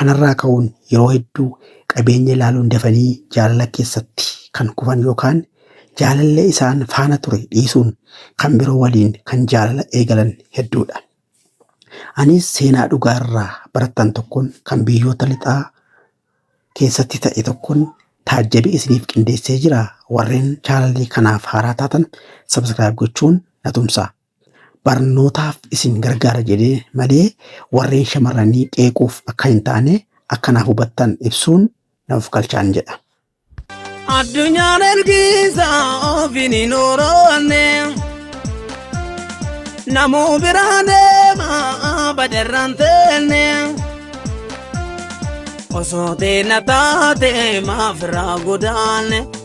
Kanarraa ka'uun yeroo hedduu qabeenya ilaaluun dafanii jaalala keessatti kan kufan yookaan jaalallee isaan faana ture dhiisuun kan biroo waliin kan jaalala eegalan hedduudha. Anis seenaa dhugaa irraa barattan tokkoon kan biyyoota lixaa keessatti ta'e tokkoon taajjabe isiniif qindeessee jira. Warreen chaalalii kanaaf haaraa taatan sabskiraayib gochuun na tumsaa. barnootaaf isin gargaara jedhee malee warreen shamarranii qeequuf akka hin taane akka naaf hubattan ibsuun na of galchaan jedha. Addunyaan ergiisa ofiin hin ooroonne Namuu biraa deema badarraan teenne Osoo teena taate maaf irraa godaanne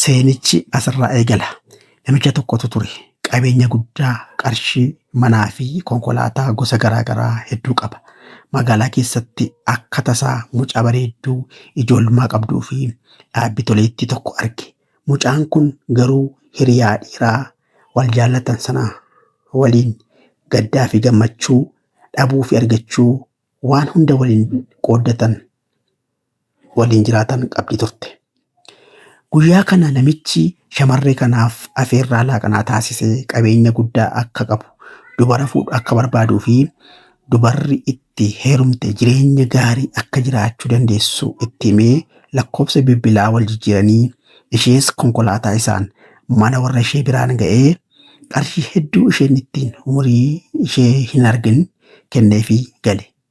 Seenichi asirraa eegala. Namicha tokkotu ture. Qabeenya guddaa, qarshii, manaa fi konkolaataa gosa garaa garaa hedduu qaba. Magaalaa keessatti akka tasaa mucaa bareedduu ijoolmaa qabduu fi dhaabbi toleettii tokko arge. Mucaan kun garuu hiriyaa dhiiraa wal jaallatan sana waliin gaddaa fi gammachuu, dhabuu fi argachuu waan hunda waliin qooddatan waliin jiraatan qabdi turte. Guyyaa kana namichi shamarree kanaaf afeerraa laaqanaa taasisee qabeenya guddaa akka qabu, dubara fuudhu akka barbaaduu fi dubarri itti heerumte jireenya gaarii akka jiraachuu dandeessu itti himee lakkoofsa bilbilaa wal jijjiiranii ishees konkolaataa isaan mana warra ishee biraan ga'ee qarshii hedduu isheen ittiin umurii ishee hin argin kenneefii gale.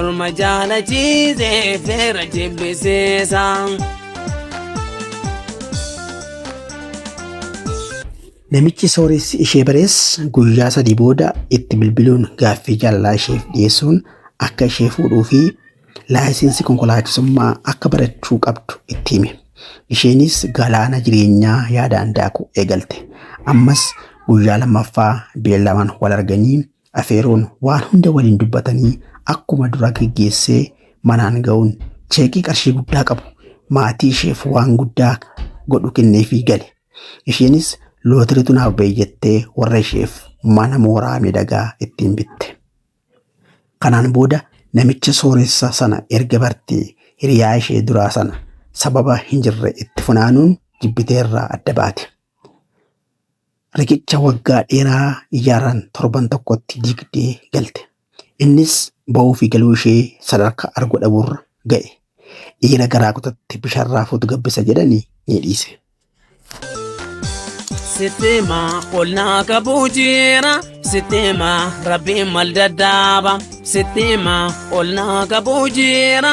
Orma jaalachiisee feera jibbisiisa. Namichi sooressi ishee barees guyyaa sadii booda itti bilbiluun gaaffii jaalalaa isheef dhiyeessuun akka ishee fuudhuu fi laayisensi konkolaachisummaa akka barachuu qabdu itti hime. Isheenis galaana jireenyaa yaadaan daakuu eegalte. Ammas guyyaa lammaffaa beellamaan wal arganii Afeeruun waan hunda waliin dubbatanii akkuma duraa geggeessee manaan ga'uun cheekii qarshii guddaa qabu maatii isheef waan guddaa godhu kenneefii gale. Isheenis lootiriitu naaf ba'e jettee warra isheef mana mooraa miidhagaa ittiin bitte. Kanaan booda namicha sooressa sana erga bartee hiriyaa ishee duraa sana sababa hin jirre itti funaanuun jibbiteerraa adda baate. riqicha waggaa dheeraa ijaaraan torban tokkotti diigdee galte. Innis ba'uu fi galuu ishee sadarkaa argu dhabuurra ga'e. Dhiira garaa kutatte bishaan raafuutu gabbisa jedhanii ni dhiise. Sittima ol naa qabuu jira sittima rabbiin mal dadhaaba sittima ol naa qabuu jira.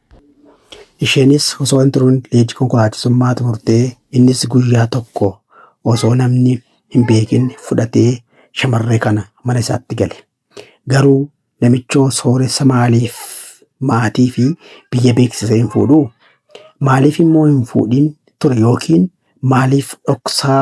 Isheenis osoo hin turuun leenjii konkolaachisummaa xumurtee innis guyyaa tokko osoo namni hin beekin fudhatee shamarree kana mana isaatti gale. Garuu namichoo sooressa maaliif maatii fi biyya beeksisee hin fuudhuu? Maaliif immoo hin fuudhin ture yookiin maaliif dhoksaa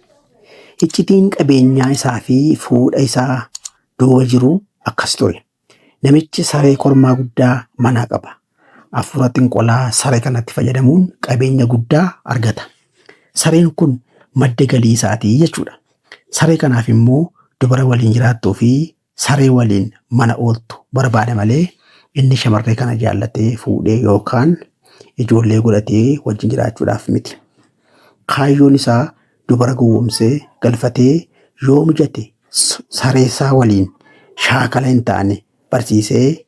Iccitiin qabeenyaa isaa fi fuudha isaa duuba jiru akkas ture. Namichi saree kormaa guddaa manaa qaba. Afuura xinqolaa saree kanatti fayyadamuun qabeenya guddaa argata. Sareen kun madda galii isaatii jechuudha. Saree kanaaf immoo dubara waliin jiraattuu fi Saree waliin mana ooltu barbaada malee inni shamarree kana jaallatee fuudhee yookaan ijoollee godhatee wajjin jiraachuudhaaf miti. Kaayyoon isaa dubara gowwomsee galfatee yoo mijate s- saree isaa waliin shaakala hin taane barsiisee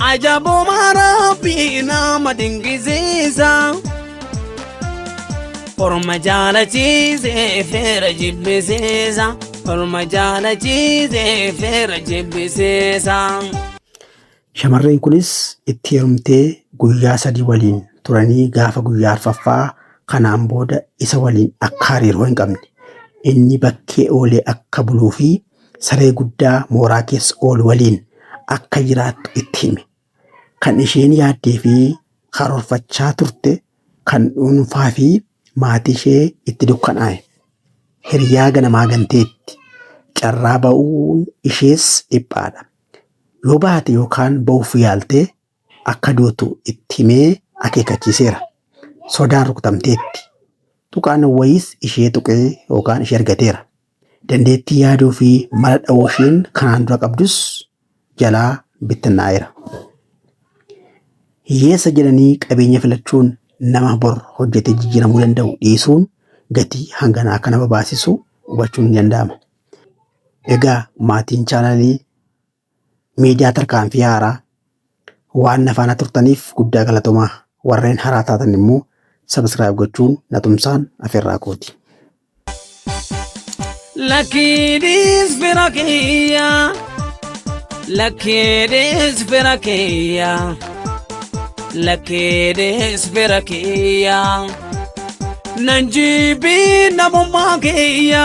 Ajabuma Rabbii nama dinqisiisa. Orma jaalachiise feera jibbisiisa. Orma jaalachiise feera jibbisiisa. Shamarreen kunis itti heerumtee guyyaa sadii waliin turanii gaafa guyyaa arfaffaa kanaan booda isa waliin akka hariiroo hin qabne inni bakkee oolee akka buluu fi saree guddaa mooraa keessa oolu waliin akka jiraattu itti hime. Kan isheen yaaddee fi karoorfachaa turte kan dhuunfaa fi maatii ishee itti dukkanaa'e. Hiriyaa ganamaa ganteetti. Carraa ba'uun ishees dhiphaadha. Yoo baate yookaan ba'uuf yaalte akka duutu itti himee akeekkachiiseera. Sodaan rukutamteetti. Tuqaan wayiis ishee tuqee yookaan ishee argateera. Dandeettii yaaduu fi mala dha'uu isheen kanaan dura qabdus jalaa bittinnaa'eera. Hiyyeessa jedhanii qabeenya filachuun nama bor hojjetee jijjiiramuu danda'u dhiisuun gatii hangana akka nama baasisu hubachuun ni danda'ama. Egaa maatiin chaanalii Miidiyaa Tarkaanfii Haaraa waan na faana turtaniif guddaa galatomaa. Warreen haraa taatan immoo subscribe gochuun na tumsaan afeerraa kooti. Lakkiidhiis fira kiyya Lakkiidhiis fira kiyya Lakkiidhiis fira kiyya Nan jibbii namummaa kiyya